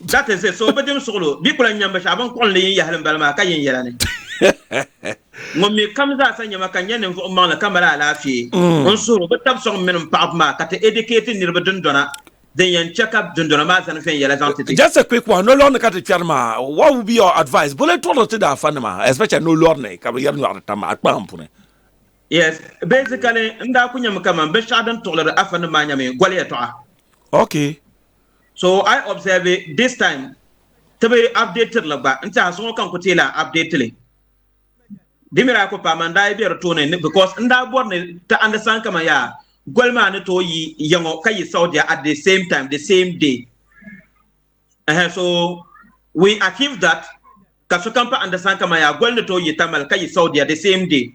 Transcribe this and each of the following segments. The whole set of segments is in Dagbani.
That is it. So bi dim suɣilo bɛ kula nyam binshaɣu bin kuɣinli yin yahili m-bala maa ka yin yɛla ni ŋun mi kam zaa sa nyama ka nya ninvuɣ maŋli ka mali alaafee mm. n suhiri bi tab sɔŋ mini m paɣibu maa ka ti edikeeti niriba dundɔna din yɛn chɛ ka dundɔna maa zani viɛn yɛla zaŋ ti ti. Just a quick one, no lɔrini ka ti kpɛri maa, what would be your advice? Bole tɔɣiri ti daafa nima, especially no lɔrini ka bi yɛri nyɔɣiri tam a kpahim puni. Yes, basically n daa ku nyami kaman binshɛɣu din tuɣiliri afa nima maa nyami gɔli yɛtɔɣa. Okay. So I observe this time ti bi update li gba n tiɛha so ŋɔ ka n ku teei lahi update li di mira ku paama n daa yi bɛ di tooni because n daa bɔri ni ti understand kaman yaa goli maa ni tooi yi ya ŋɔ ka yi Saudia at the same time the same day ɛhɛ so we achieve that ka sokam pa understand kaman yaa goli ni tooi yi Tamale ka yi Saudia the same day.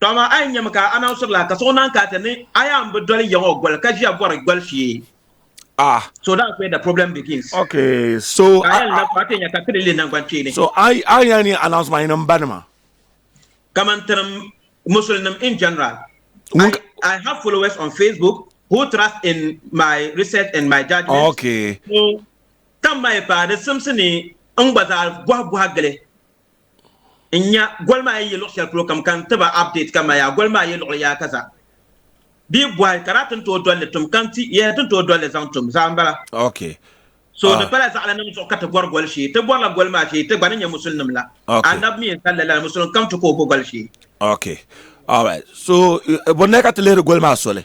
To amaa a yi nyɛmi ka a naŋ sɔbila ka suɣu naan kaati ni a yaa n bi doli yiŋ o goli ka ʒiya bɔri goli shee. Ah. So that's where the problem begins. Okay, so ka a na fati nya ka tiri li nangban kpeeni. So a a nya ni announce ma yin ba nima. Kaman tirim Muslim in general. I, I have followers on Facebook who trust in my research and my judgment. Okay. So, tam mai pa di simsi ni n gba zaa bɔhi bɔhi gili. N nya goli maa yi yi luɣ shɛli polo kam ka n ti ba update ka ma yaa goli maa yi luɣili yaa ka za bee bɔhi ka daa ti ni tooi doli li tum ka n ti yɛli ti ni tooi doli li zaŋ tum zaa m-bala. Ok. So di pala zaɣilinim zuɣu ka ti bɔri goli shee. Ti bɔrila goli maa shee ti gba ni nya musulinim la. Annabi mi n-zali li la ni musulim kam ti kooi bo goli shee. Ok. Alright. So bonnaya ka ti lihiri goli maa soli?